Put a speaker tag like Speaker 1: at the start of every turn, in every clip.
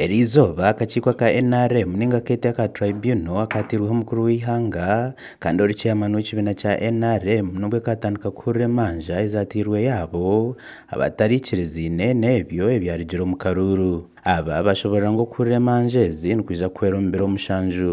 Speaker 1: Erizooba akakiiko aka NRM ninga akeete aka Tribunal akaatirweho omukuru w'eihanga kandi ori chairman w'ekibiina kya NRM nubwo kaatandika kuhurira emanja ezaatairwe yaabo abatarikiriziine n'ebyo ebyarugire omu karuuru. Aba bashoboorora ngu okuhurira emanja ezi nikwija kuhwera omu biro mushanju.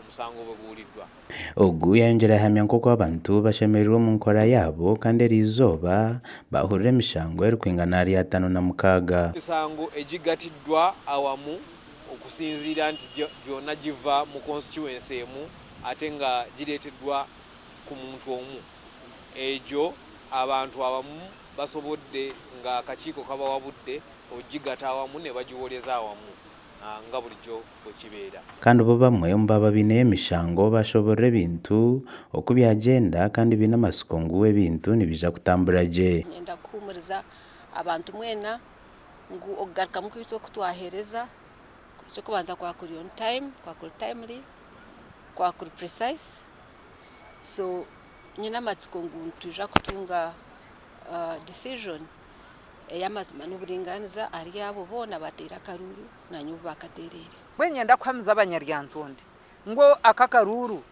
Speaker 2: omusango obwe buurirwa. Ogu yayongyera
Speaker 1: yahamya nk'oku abantu bashemerirwe omu nkora yaabo kandi eri izooba baahurira emishango erikwingana ahari ataano na mukaaga. Emisango egi
Speaker 2: gatiddwa awamu okusinziira nti gyona giva mu konsituwensi emu ate nga gireetedwa ku muntu omu. Egyo abantu abamu basobodde nga akakiiko kabawabudde okugigata awamu nebagiworeza awamu nga bulijo. okibeera. Kandi bo bamwe omu
Speaker 1: baaba baineyo emishango baashoboorora ebintu oku byagyenda kandi baine amatsiko ngu ebintu nibiija kutambura gye. Niinyenda kuhuumuriza
Speaker 3: abantu mwena ngu okugarukamu kwaitu oku twaheereza, eky'okubanza kwaba kuri on time, kwaba kuri timely, kwaba kuri precise. So nyine amatsiko ngu nitwija kutunga decision ey'amazima n'oburingaaniza ahari abo boona abaateire akaruuru. naanye obu baakateereire. Mbwenu nyenda kuhamiza
Speaker 4: abanyaryantonde ngu aka akaruuru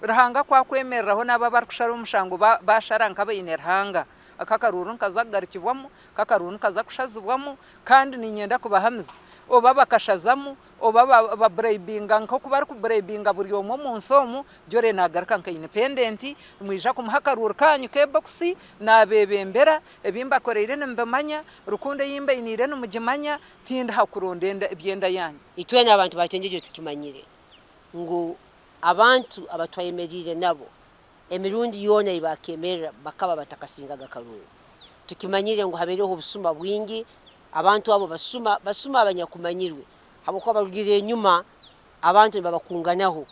Speaker 4: Ruhanga ku akwemereraho n'abu abarikushara omushango baashara nk'abaine Ruhanga, aka akaruuru nikaza kugarukibwamu, aka akaruuru nikaza kushazibwamu kandi niinyenda kubahamiza oba bakashazamu oba baburayibinga nk'oku barikuburayibinga buri omwe omu nsi omu, Jolley naagaruka nka indipendenti, nimwija kumuha akaruuru kaanyu k'ebokisi, naabeebembera, ebi mbakoreire nimubimanya, rukundo ei mbainiire nimugimanya, Tindi ha kuronda enda ebyenda yange. Itwena abantu ba Kyengyegye
Speaker 5: tukimanyire ngu abantu abatwayemereire nabo emirundi yoona ei baakemerera bakaba batakasingaga Karooro. Tukimanyire ngu habaireho obusuma bwingi, abantu abo basuma, basuma abanyakumanyirwe habwokuba barugiirira enyuma abantu nibabakunganaho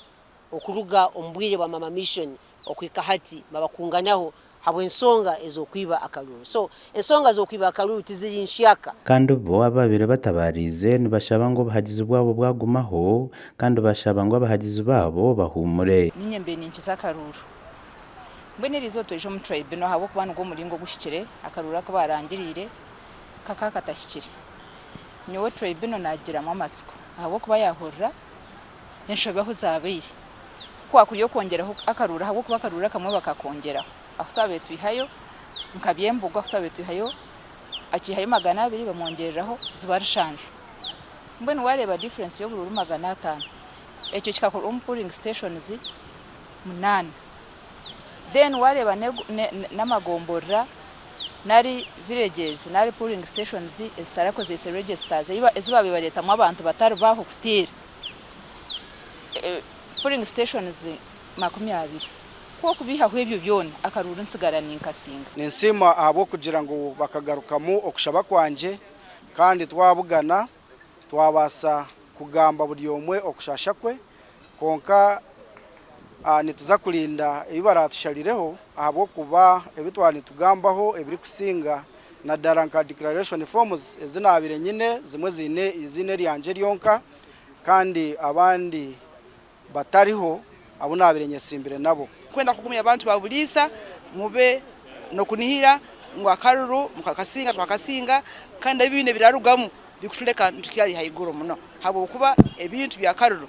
Speaker 5: okuruga omu bwire bwa Maama Missioni okuhika hati babakunganyaho habw'ensonga ez'okwiba akaruru. So ensonga z'okwiba akaruru tiziri nhyaka. Kandi bo ababaire
Speaker 1: batabaariize nibashaba ngu obuhagizi bwabo bwagumaho, kandi bashaba ngu abahagizi baabo bahuumure. Niinye mbe ninkiza
Speaker 6: akaruru. Mbwenu eri izooba tweija omu tribunal ahabw'okuba nigwo muringo oguhikire akaruru aku baarangiriire kakaba katahikire. Nyowe tribunal naagigiramu amatsiko ahabw'okuba yaahurira enshobe ahu zaabaire. Ku kwakuri okwongyeraho akaruuru ahabw'okuba akaruuru akamwe bakakongyeraho. Ahu twabaire twihayo nka Byembogo ahu twabaire twihayo akiihayo magana abiri bamwongyereraho ziba nshanju. Mbwenu waareeba difference y'oburuuru magana ataano. Ekyo kikakorwa omu pooling stations munaana. Then waareeba n'amagomborora nari villages nari pooling stations ezitarakozeise registers ezi baabaire nibareetamu abantu batari bo aho kuteera. Polling stations makumi abiri. Ku okubeihaho ebyo byona, akaruuru nitsigara ninkasinga. Ninsiima ahabw'okugira
Speaker 7: ngu bakagarukamu okushaba kwangye kandi twabugana twabaasa kugamba buri omwe okushaasha kwe. Kwonka nituza kurinda ebi baraatusharirireho ahabw'okuba ebi twaba nitugambaho ebirikusinga nadara nka declaration forms ezi nabire nyine zimwe zine izine ryangye ryonka kandi abandi batariho abu nabire nyesimbire nabo. Kwenda kugumya abantu ba
Speaker 8: buriisa mube nokunihira ngu akaruru mukakasinga twakasinga kandi ebi bine birarugamu bikutuleka nitukyari haiguru muno habwokuba ebintu bya karuru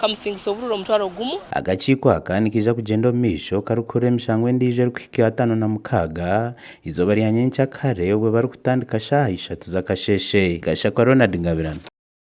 Speaker 9: kamusingisa obururu omutwaro gumu. Akakiiko aka
Speaker 1: nikaija kugyenda omu maisho karikuhurira emishango endiijo erikuhika ataano na mukaaga eizooba rya nyenkya kare obwo barikutandika shaaha ishatu z'akasheeshe. Gashakwa Ronald Ngabirano.